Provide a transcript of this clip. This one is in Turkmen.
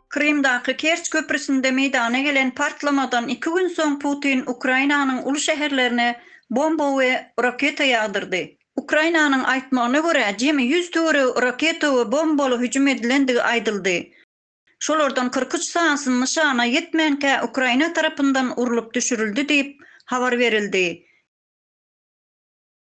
Krymdaky Kerç köprüsinde meýdana gelen partlamadan iki gün soň Putin Ukrainanyň uly şäherlerine bomba we raketa ýagdyrdy. Ukrainanyň aýtmagyna görä, jemi ýüz töweregi raketa we bombaly hüjüm edilendigi aýdyldy. Şolardan kyrk üç sanysy nyşana ýetmänkä Ukraina tarapyndan urlup düşürildi diýip, habar berildi.